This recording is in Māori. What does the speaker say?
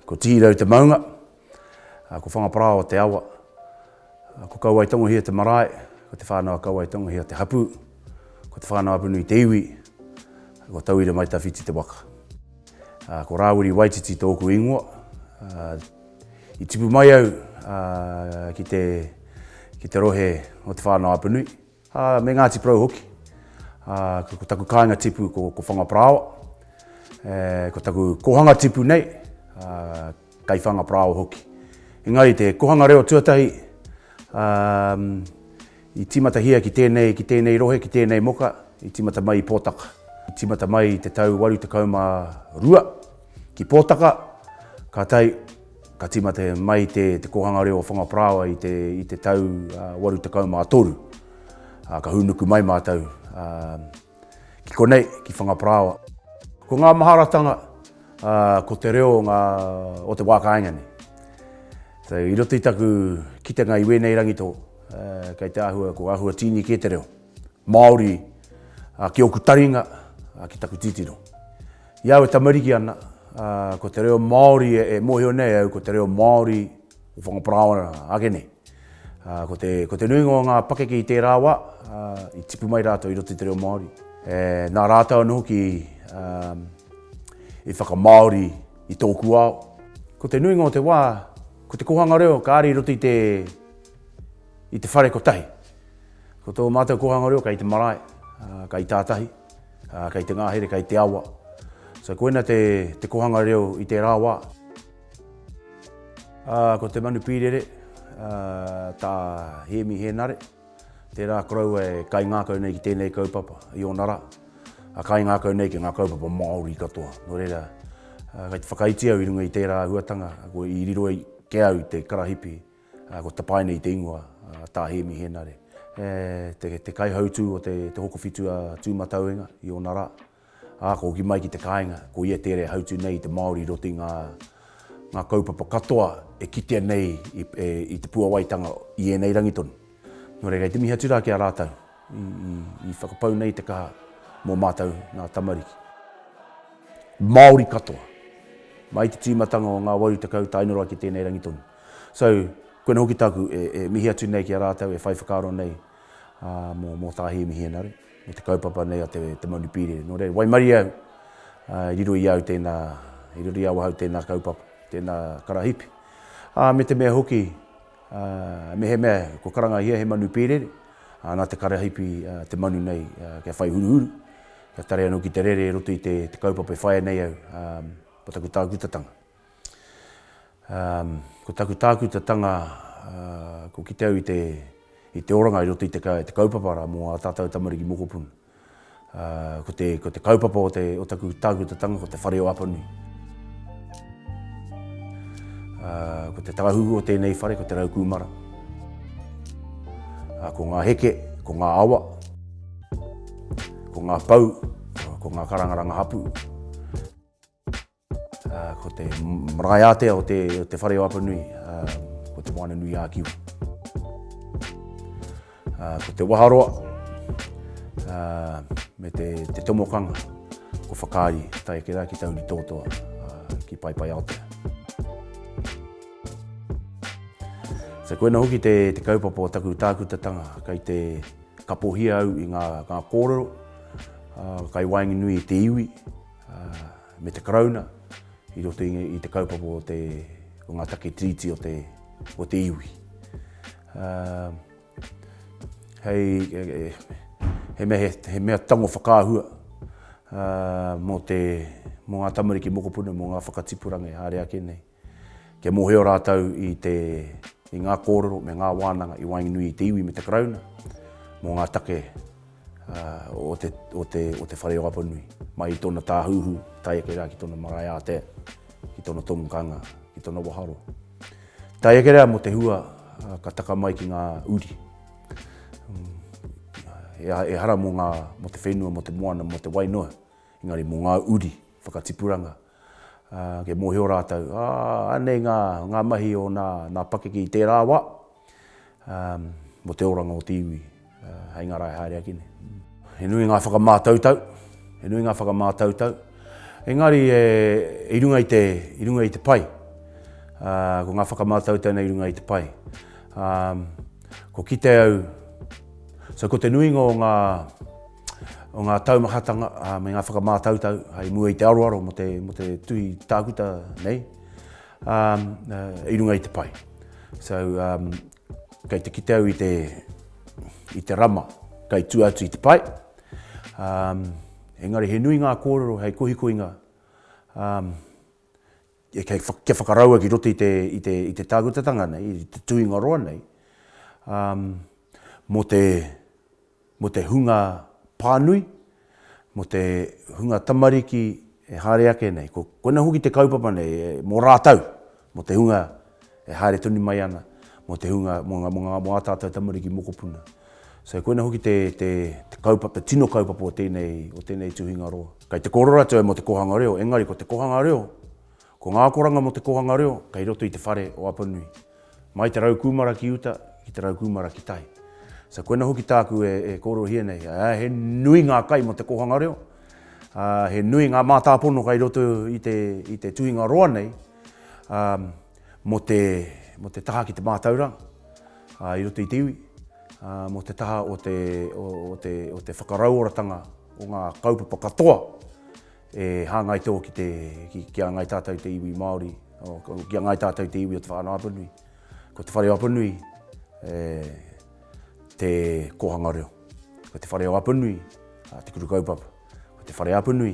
Ko Tihirau te maunga, ko Whangaparāoa te awa, ko Kauaetongohia te marae, ko Te Whānau-a-Kauaetongohia te hapū, ko Te Whānau-a-Apanui te iwi, ko Tauira-mai-tawhiti te waka. Ko Rāwiri Waititi tōku ingoa. I tipu mai au ki te rohe o Te Whānau-a-Apanui. Ā, me Ngāti Porou hoki. Ā, ko taku kāinga tipu ko, ko Whangaparāoa. E, ko taku kōhanga tipu nei, ā, kei Whangaparāoa hoki. Engari te kōhanga reo tuatahi, ā, i tīmatahia ki tēnei, ki tēnei rohe, ki tēnei moka, i tīmata mai i Pōtaka. I tīmata mai i te tau 82 ki Pōtaka, kātahi Ka tīmata mai te Kōhanga Reo o Whangaparāoa i te tau 83. Ka hūnuku mai mātou ki konei, ki Whangaparāoa. Ko ngā maharatanga, ko te reo o te wā kāinga nei. So, i roto i taku kitenga i wēnei rangi tō, kei te āhua, ko āhua tīni kē te reo Māori ki ōku taringa, ki taku titiro. I au e tamariki ana, ko te reo Māori e mōhio nei au ko te reo Māori o Whangaparaoa ake nei. Ko te, ko te nuinga o ngā pakeke i tērā wā, i tipu mai rātou i roto i te reo Māori. Nā rātou anō hoki i whakamāori i tōku ao. Ko te nuinga o te wā, ko te kōhanga reo ka ari i roto i te, i te whare kotahi. Ko tō mātou kōhanga reo kei te marae, kei tātahi. Ā, kei te ngahere, kei te awa. So, koina te, te kohanga reo i tērā wā. Ā, ko te manu pīrere, ā, tā Hēmi Hēnare, tērā koroua e kaingākau nei ki tēnei kaupapa i ōna rā. Ā, kaingākau nei ki ngā kaupapa Māori katoa. Nō reira, kei te whakaiti au i runga i tērā āhuatanga, i riro ai ki au te karahipi. Ko Tapaine i te ingoa, tā Hēmi Hēnare, te kaihautū o te hokowhitu a Tūmatauenga i ōna rā. Ā, ka hoki mai ki te kāinga, ko ia tērā e hautū nei i te Māori i roto i ngā kaupapa katoa e kitea nei i te puawaitanga i ēnei rangi tonu. Nō reira, i te mihi atu rā ki a rātou i whakapau nei te kaha mō mātou ngā tamariki. Māori katoa, mai te tīmatanga o ngā waru tekau tae noa ki tēnei rangi tonu. So, koina hoki tāku e, e mihi atu nei ki a rātou e whai whakaaro nei ā, mō, mō tā Hēmi Hienare, mō te kaupapa nei a te, te Mauri Pīrere. Nō reira, waimarie au ā, i riro i au tēnā, i riro i awahau tēnā kaupapa, tēnā karahipi. Ā, me te mea hoki, ā, mehemea kua karangahia he manu pīrere, ā, nā te karahipi ā, te manu nei ā, kia whai huruhuru, kia tare anō ki te rere i roto i te, te kaupapa e whaia nei au ā, mō taku tākutatanga. Ko taku tākutatanga, ko kite au i te oranga i roto i te kaupapa rā mō ā tātou tamariki mokopuna. Ko te kaupapa o taku tākutatanga ko te whare o Apanui. Ko te tāhuhu o tēnei whare ko te rau kūmara. Ko ngā heke, ko ngā awa, ko ngā pou, ko ngā karangaranga hapu. Ko te marae ātea o te o te whare o Apanui ko Te Moana nui ā Kiwa. Ko te waharoa me te te tomokanga ko whakaari tae ake rā ki Tauri Tōtoa ki Paepae Aotea. So koina hoki te te kaupapa o taku tākutatanga kai te kapohia au i ngā ngā kōrero kai waenganui i te iwi me te Karauna i roto i te kaupapa o te, o ngā take tiriti o te, o te iwi. Uh, hei, hei, he, mea, he, he mea tango whakaahua uh, mō, te, mō ngā tamariki mokopuna, mō ngā whakatipuranga e haere ake nei. Kia mōhio rātou i te, i ngā kōrero me ngā wānanga i waenganui i te iwi me te Karauna mō ngā take o te, o te, o te whare o Apanui, mai i tōna tāhuhu tae ake rā ki tōna marae ātea, ki tōna tomokanga, ki tōna waharo. Tae ake rā mō te hua ka taka mai ki ngā uri. Ehara mō, ngā, mō te whenua, mō te moana, mō te wainoa, engari mō ngā uri, whakatipuranga, Ā, kei mōhio rātou, Ā, anei ngā, ngā mahi o nā, nā pakeke i tērā wā, ā, mō te oranga o te iwi, ā, hei ngā rae haere ake nei. He nui ngā whakamātautau, he nui ngā whakamātautau, engari e, i runga i te, i runga i te pai, ā, ko ngā whakamātautau nei i runga i te pai, ā, kua kite au, so ko te nuinga o ngā, o ngā taumahatanga me ngā whakamātautau i mua i te aroaro mō te, mō te tuhi tākuta nei um, uh, i runga i te pai. So, um, kei te kite au i te, i te rama, kei tu atu i te pai. Um, engari he nui ngā kōrero hei kohikoinga um, kia whakaraua ki roto i te tākutatanga nei, i te tuingaroa nei, mō te hunga pānui, mō te hunga tamariki e haere ake nei. Koina hoki te kaupapa nei, mō rātou, mō te hunga e haere tonu mai ana mō te hunga, mō ngā, mō ngā, mō ā tātou tamariki mokopuna. So koina hoki te, te, te, kaupa, te tino kaupapa o tēnei, o tēnei tuhinga roa. Kei te kōrero atu au mō te kōhanga reo, engari ko te kōhanga reo, ko ngā akoranga mō te kōhanga reo, kei roto i te whare o Apanui. Mai te rau kūmara ki uta, ki te rau kūmara ki tai. So koina hoki tāku e, e kōrerohia nei, ā, he nui ngā kai mō te kōhanga reo, ā, he nui ngā mātāpono kei roto i te, i te tuhinga roa nei, mō te, mō te taha ki te mātauranga i roto i te iwi, mō te taha o te, o te, o te whakarauoratanga o ngā kaupapa katoa e hāngai tō ki te, ki, ki a Ngai Tātou te iwi Māori, o, ki a Ngai Tātou te iwi o Te Whānau-a-Apanui. Ko Te Whare o Apanui e, te kōhanga reo. Ko Te Whare o Apanui te kuru kaupapa. Ko Te Whare Apanui